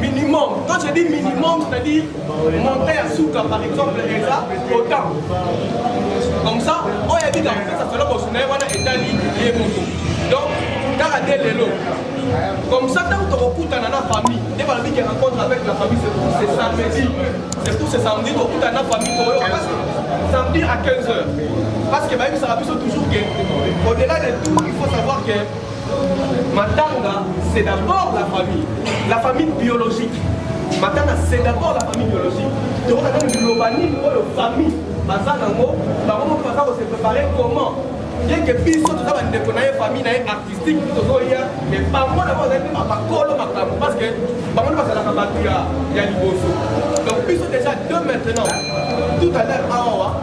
minimum quand je dis minimum c'est à dire montant ya suka par exemple eza autant comme ça oyo oh, abika kopesa solo bosu na ye wana etali ye moko donc kaka nde lelo comme ça ntango tokokutana na famille nde balobi ke rencontre avec la famille c'est samedi c'est pour ce samedi tokutana na famille toyoka parce que samedi à 15 heures parce que bayebisaka biso toujours ke au delà de tout il faut savoir que Matanga, c'est d'abord la famille, la famille biologique. Matanga, c'est d'abord la famille biologique. Donc, on a même l'urbanisme, la famille, baza nango, bango moko baza ko se préparer comment bien que biso toza bandeko na ye famille na ye artistique tozoya mais bango na bango bazali bakolo makambo parce que bango nde bazalaka bato ya liboso donc biso déjà de maintenant tout à l'heure awa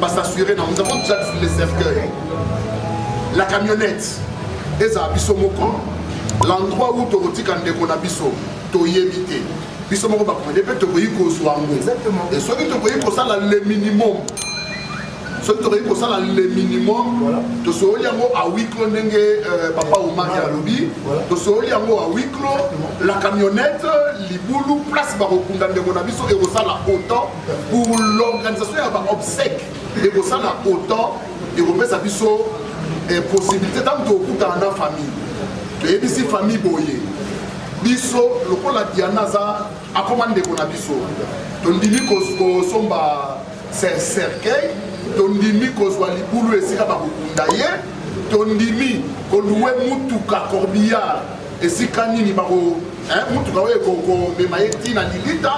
ba s'assurer na nous avons déjà le cercueil la camionnette ezala biso moko l'endroit où tokotika ndeko na biso toyebi te biso moko bakomede mpe tokoki kozwa yango e soki tokoki kosala le minimum soki tokoki kosala le minimum tosooli yango a wiclo ndenge euh, papa omari alobi tosooli yango a wiclo la camionnette libulu place bakokunda ndeko na biso ekosala autant Pour l'organisation ya ba obsèques ekosala autant ekopesa biso eh, possibilité ntango tokokutana na famille toyebisi famille boye biso lokola diana aza akoma ndeko na biso tondimi kosomba cercueil tondimi kozwa libulu esika bakokunda ye tondimi koluwe mutuka corbillard esika nini bako eh, motuka oyo ekobema ye ntina lilita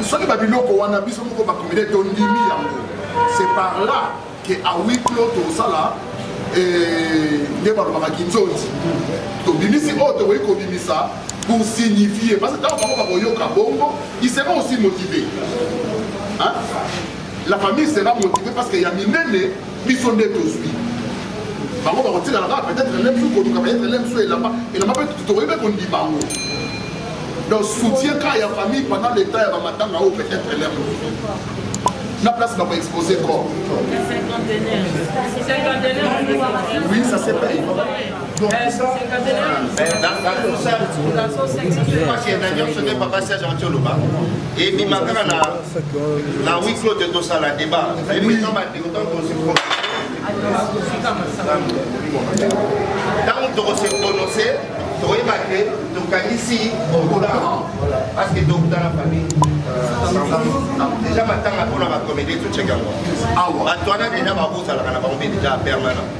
soki babiloko wana biso moko bakomele tondimi yango c'est par là ke awiklo tosala eh, nde balobaka kinzonzi tobimisi oyo tokoki kobimisa pour signifier parce que ntango bango bakoyoka bongo il sera aussi motivé hein? la famille sera motivée parce que ya minene biso nde tozwi bango bakotikala kaka peut-être elem su koluka peut-être elem su elamba elamba mpe tokoki mpe kondima yango donc soutien kaka ya famille pendant le temps ya bamatanga oyo peut-être elem na place bako expose corps oui ça c'est payé donc ça soki papa serge anti oloba ebima kaka na huis clos te tosala débat ntango tokose prononce tokoyeba te tokanisi okola parce que tokuta na famille deja matanga mpona bacomédie toceke yango awa bato wana deja bakozalaka na bango mpe deja permanent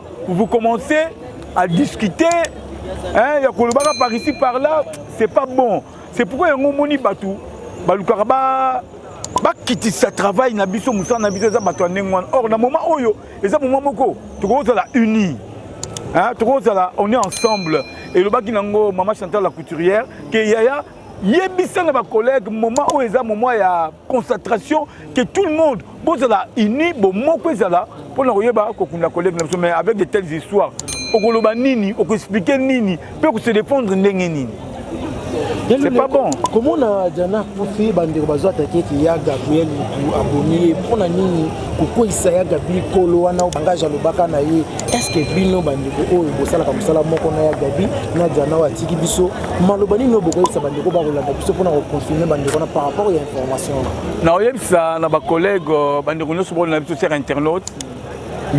Vous commencez à discuter hein, ya kolobaka par ici par là, c'est pas bon. C'est pourquoi yango omoni bato balukaka ba bakitisa travail na biso mosala na biso eza bato ya ndenge wana or na moment oyo eza moment moko tokozala unis hein, tokozala on est ensemble elobaki nango mama chantal la couturière ke yaya yebisa na bacollègue moment oyo eza moment ya concentration que tout le monde bozala uni bomoko ezala mpo na koyeba kokunda kolege na biso mais avec de telles histoires okoloba nini okoexplike nini mpe okose répondre ndenge nini c'est pas bon komona jana akufi bandeko bazwa atake ki ya gabriel mutu abomi ye mpo na nini kokweyisa ya gabi kolo wana bangage alobaka na ye estce bino bandeko oyo bosalaka mosala moko na ya gabi na jana oyo atiki biso maloba nini oyo bokoyebisa bandeko bakolanda biso mpona koconfirme bandeko na par rapport ya information wana nakoyebisa na bacollègue euh, bandeko nyonso bakolanda biso ser internaute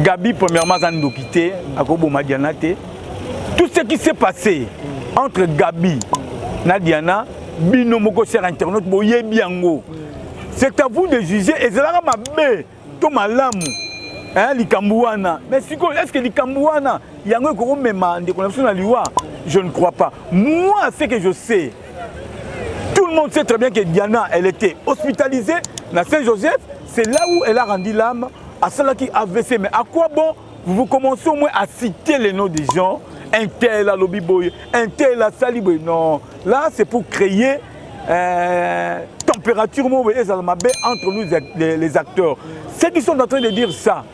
gabi premièrement aza ndoki te akoboma diana te tout ce qui s'est passé entre gabi na diana bino moko ser internaute boyebi yango c'est à vous de juger ezalaka mabe to malamu eh, likambo wana mais sikoyo est ce que likambo wana yango ekokomema ndeko na biso na liwa je ne crois pas moi ce que je sais tout le monde sait très bien que diana elle était hospitalisée na saint joseph c'est là où elle a rendu l'âme asalaki avc mais à quoi bon vous commencez au moins à citer les noms des gens un tel alobi boye un tel asali boye non là c'est pour créer euh, température moko ezala mabe entre nous les, les acteurs ceux qui sont en train de dire ça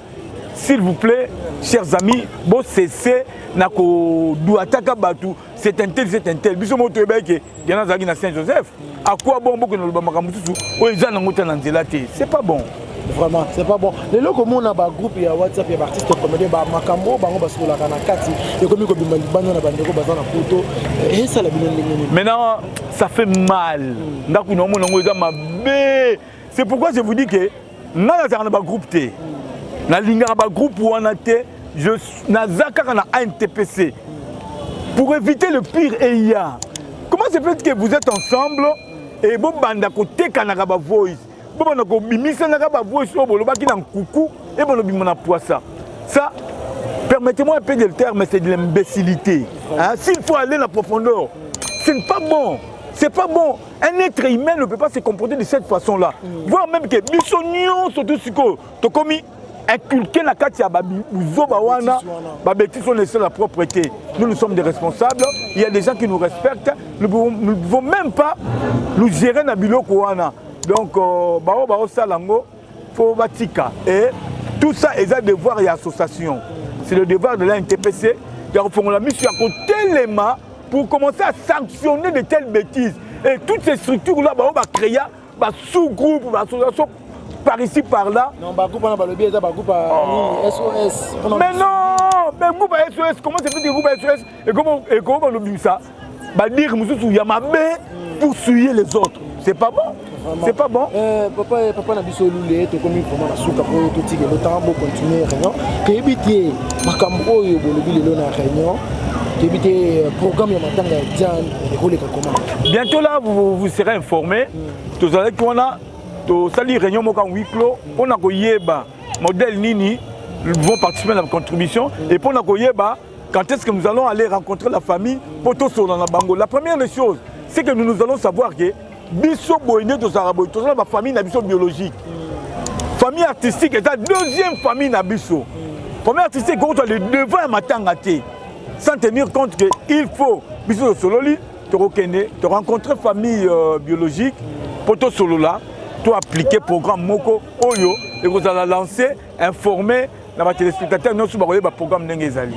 s'il vous plaît chers amis bo cesse na koduataka bato c'est un tel c'est un tel biso moko toyebaki ke diana azalaki na saint joseph à quoi bon bokende loba makambo mosusu oyo eza nango ta na nzela te c'est pas bon vraiment c'est pas bon lelo komona bagroupe ya whatsapp ya baartiste comédien bamakambo bango basololaka na kati ekomi kobima libanda na bandeko baza na poto eh, esala bino ndenge nini maintenant ça fait mal mm. nga kuna omona yango eza mabe c'est pourquoi je vous dis que nga nazalaka na bagroupe te mm. nalingaka bagroupe wana te naza kaka na antpc pour éviter le pire eya comment se fait que vous êtes ensemble et bobanda kotekanaka bavoice bobanda kobimisanaka bavoice oyo bolobaki na nkuku ebanda obima na pwasa ça permettez-moi un peu de le terme mais c'est de l'imbécilité hein? s'il faut aller na profondeur ce n'est pas bon c'est pas bon un être humain ne peut pas se comporter de cette façon là mm. voire même que biso nyonso tu sikoyo tokomi inculquer na kati ya buzoba wana babetise on essaie la propreté nous nous sommes des responsables il y a des gens qui nous respectent nous pouvons, nous pouvons même pas nous gérer na biloko wana donc euh, bao baosala yango faut batika et tout ça eza devoir ya association c'est le devoir de la ntpc ya kofongola miso ya kotelema pour commencer à sanctionner de telles bêtises et toutes ces structures là bao bacréa ba sous groupe ba association par ici par là non ba groupe na ba lobby eza ba groupe oh. SOS mais non mais groupe SOS comment c'est fait que groupe SOS et comment et comment ba lobby ça ba dire mususu ya mabe hmm. pour suyer les autres c'est pas bon c'est pas bon euh, papa euh, papa na biso lule tokomi vraiment na suka po totika lotanga bo continuer réunion toyebi te makambo oyo bolobi lelo na réunion toyebi te euh, programme ya matanga ya diane bientôt là vous, vous serez informé mm. tozalaki wana tosali réunion moko en huis clos mpo na koyeba modèle nini vont participer à la contribution mm. et mpo na koyeba quand est-ce que nous allons aller rencontrer la famille pour tout sur la bango la première des choses c'est que nous nous allons savoir que biso boye nde tozalaka boye tozala ba famille na biso biologique famille artistique eza deuxième famille na biso famille artistique ekoki kozwa le devant ya matanga te sans tenir compte que il faut biso tosololi tokokende torencontre famille euh, biologique mpo tosolola to appliquer programme moko oyo ekozala lance informer na ba téléspectateurs nyoso bakoyeba programme ndenge ezali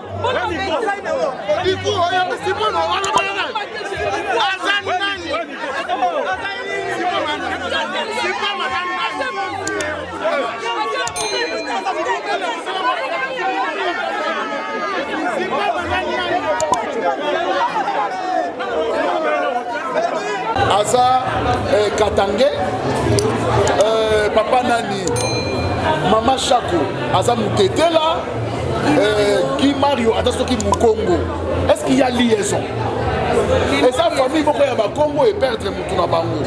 aza eh, katange eh, papa nani mama shako aza mutetela Eh, Guy Mario ata soki mukongo est-ce qu'il y a liaison eza famille moko ya bakongo eperdre motu na bango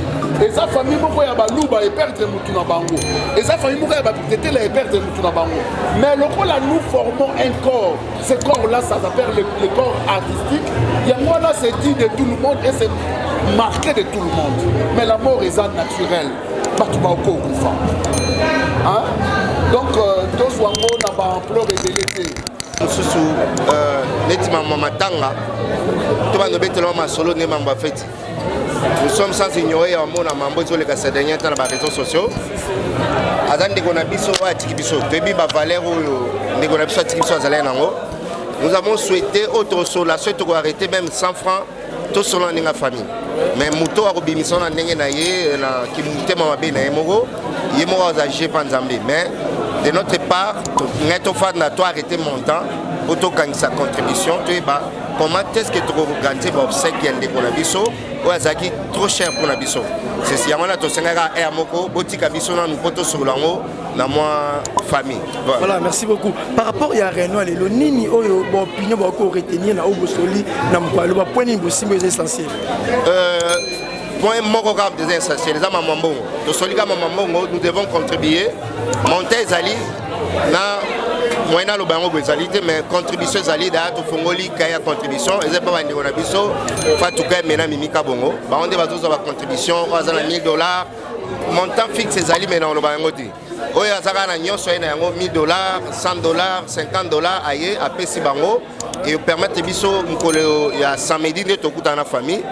eza famille moko ya baluba eperdre motu na bango eza famille moko ya batetela eperdre motu na bango mais lokola nous formons un corps ce corps là ça s'appelle le, le corps artistique yango wana c'est dit de tout le monde et c'est marqué de tout le monde mais la mort eza naturelle bato bakokufa donc euh, tozwa ngo na baampleur ebele te mosusu euh, neti mambo matanga to bando betelama masolo nde mambo ya feti nous sommes sans ignorer ya bamona mambo ezoleka sa dernier temps na bareseau sociaux aza ndeko na biso oyo atiki biso toyebi bavaleur oyo ndeko na biso atiki biso azalaki nango nous avons souhaité autre sola soki tokoarrete même 100 francs tosolana ndenge ya famille mais moto akobimisa na ndenge na ye na kimotema mabe na ye moko ye moko aza je mpa nzambe mais de notre part ngai tofanda to arrete montant mpo tokangisa contribution toyeba comment est-ce que tokoorganize baobsèque ya ndeko na biso oyo azalaki trop cher mpo na biso yango wana tosengaka aire moko botika biso nanu mpo tosolola yango na mwa famille voilà. voilà merci beaucoup par rapport ya réunion lelo nini oyo baopinion bakoki koretenir na oyo bosoli na mokolo aloba point nini bosimba eza essentiel euh, point moko kaka mpenza essentiel eza mama mbongo tosoli kaka mama mbongo nous devons contribuer monta ezali na moyen naloba yango boye ezali te mais contribution ezali daya tofongoli kai ya contribution eza mpe bandeko na biso fatuka emena mimika bongo bango nde bazozwa bacontribution oyo aza na 1000 dollars montant fixe ezali me na oloba yango te oyo aza kaka na nyonso aye na yango 1000 dollars 100 dollars 50 dollars aye apesi bango epermettre biso mokolo ya samedi nde tokutana na famille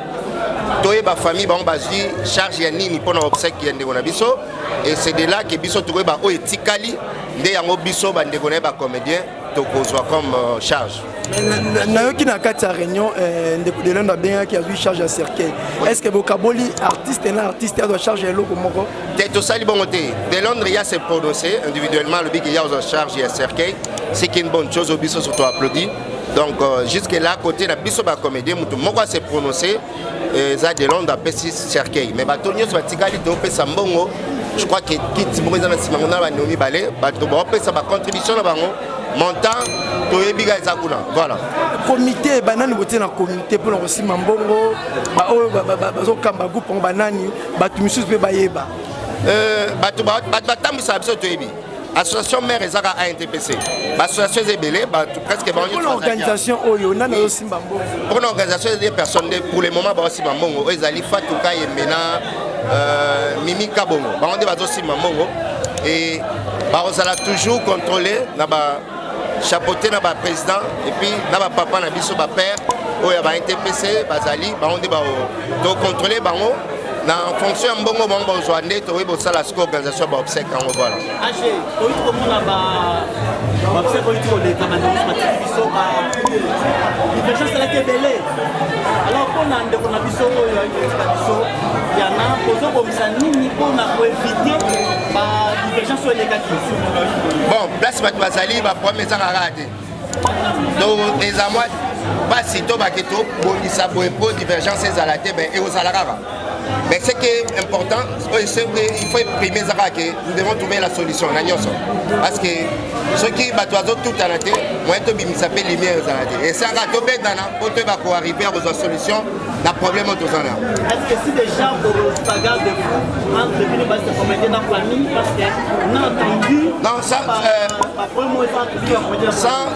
toyeba famille bango bazwi charge ya nini mpo na obsèque ya ndeko na biso et c'est de là ke biso tokoyeba oyo etikali nde yango biso bandeko na ye bacomédien tokozwa comme euh, charge nayoki na kati ya réunion euh, ndeko delendo abengaki azwi charge ya cercueil est ce que bokaboli artiste na artiste azwa charge ya eloko moko te tosali bongo te delondre ya se prononce individuellement alobi ke ya ozwa charge ya cercueil c'est une bonne chose obiso surtout applaudi donc euh, jusque là côté na biso bacomédien moto moko ase prononce eza eh, de londre apesi cercueil mais bato nyonso batikali topesa mbongo je crois que kiti moko eza na nsima ngo na bandeko mibale bato baopesa bacontribution na bango montant toyebi ka eza kuna voilà komite banani botie na komite mpona kosimba mbongo baoyo bazokamba groupe yango banani bato misusu mpe bayeba eh, bato batambwisaka biso toyebi association mère eza ka antpc baassociation eza ebele bato presque bampona organisation oyo nani azosimba mbongo mpona organisation eza personne nde pour le moment baosimba mbongo oyo ezali fatuka yembena euh, mimi kabongo bango nde bazosimba mbongo e bakozala toujours contrôle na ba chapeaute na ba président et puis na ba papa na biso ba père oyo ya ba NTPC bazali bango nde bao to contrôler bango na fonction ya mbongo bango bazwa nde tokoki bosala siko organisation ya baobsèque yango voilà age toyi tokomona baobsèque oyo tikoleka bandeko matiki biso ba diversion esalaki ebele alors mpo na ndeko na biso oyo ayibelisa biso yana kozobongisa nini mpo na koevite bon place bato bazali baproblème ezanga kaka te donc eza mwa mpasi to bake tobongisa boye mpo divergence ezala te ben ekozala kaka mais ce qui est important il faut exprimer eza kaka ke nous devons trouver la solution na nyonso parce que soki bato azotutana te moyen tobimisa mpe lumière ezala te esanga tobetana mpo toyeba koarrive akozwa solution na problème oyo toza na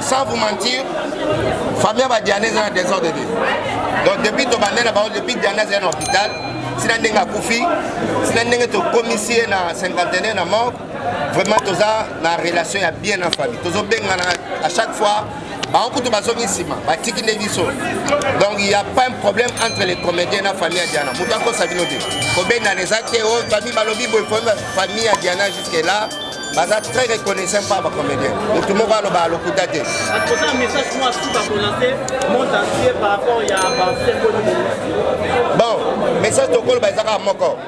sans vous mentir famille ya badiana eza na désordre te donc depuis tobande na bango depuis diana azali na hôpital sina ndenge akufi sina ndenge tokomisi ye na cinquantenaire na morgue vraiment toza na relation ya bien na famille tozobengana à chaque fois bango kutu bazongi nsima batiki nde biso donc il y a pas un problème entre les comédiens na famille ya diana moto akosa bino te kobendana eza te o oh, famille balobi boye famille ya diana jusque là baza très reconnaissant par bacomédien motu moko aloba alokuta te bon message tokoloba eza kaka moko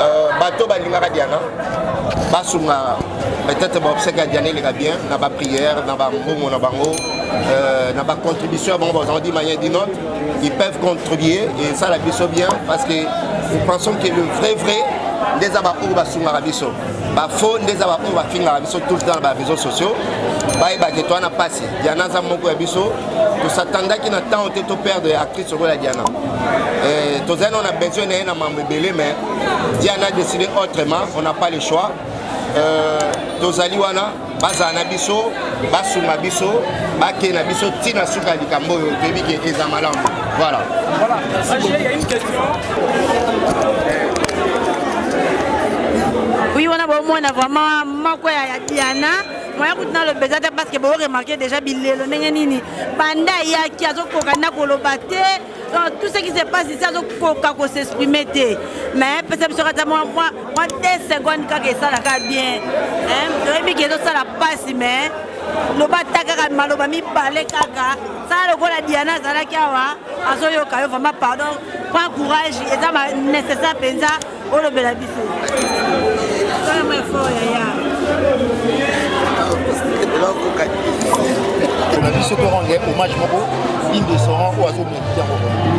Euh, bato balingaka diana basunga peut-être baobsèque ya diana eleka bien na baprière na bambongo na bango euh, na bacontribution ya bango bazango di manière di note ils peuvent contribuer esala biso bien parce que nous pensons que le vrai vrai nde eza baoyo basungaka biso bafaux nde eza baoyo bafingaka biso tout le temps na bareseau sociaux bayebake to wana mpasi diana aza moko ya biso tosatandaki na ntango te to perdre ya actrice lokola diana Euh, tozali on a besoin na ye na mambo ebele mais diana décidé autrement on n'a pas le choix euh, tozali wana bazala na biso basunga biso bakei na biso ti na suka ya likambo oyo toyebi ke eza malamu voilà, voilà. oui wana bomona vraiment moko ya diana moya kutu naloba eza te parce que boremarke déjà bilelo ndenge nini banda ayaki azokoka na koloba te donc tout ce qui se passe ici azokoka ko s'exprimer te mais pesa biso kata mwa 2 seconde kaka esalaka bien toyebi ke ezosala mpasi mais loba ata kaka maloba mibale kaka sala lokola diana azalaki awa azoyoka yo vraiment pardon prend courage eza nécessaire mpenza olobela biso na biso torendre hommage moko indescendant oyo azomekiti yango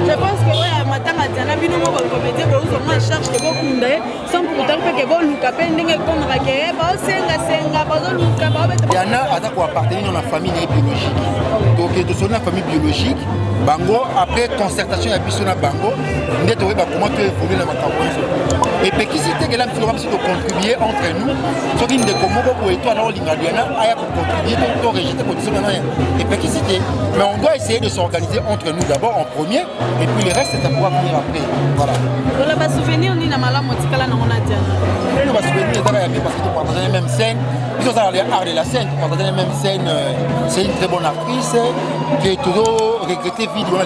je pense que oyo matanga tiana bino moko komete bouzo mwa charge ke bokunda ye sans pourtant mpe ke boluka mpe ndenge ekomaka ke eh, baosengasenga bazoluka baobetayana aza koappartenir na famille na ye biologique donc tosoli na famille biologique bango après concertation ya biso na bango nde toyeba koma to evolue na makambo nyonso epekisi te kela biso loka biso tocontribue entre nous soki ndeko moko boye to ana olinga diana aya kocontribue to to rejete condition nana epekisi te mais on doit essayer de s'organiser entre nous d'abord en premier et puis les restes ça pourra venir après voilà lola ba souvenir ni na malamu otikala nango na diana oyo ba souvenir ezaka ya bien parce que topartage na même scène biso ozala le art de la scène topartage na même scène euh, c'est une très bonne actrice que tozo regretter vide wana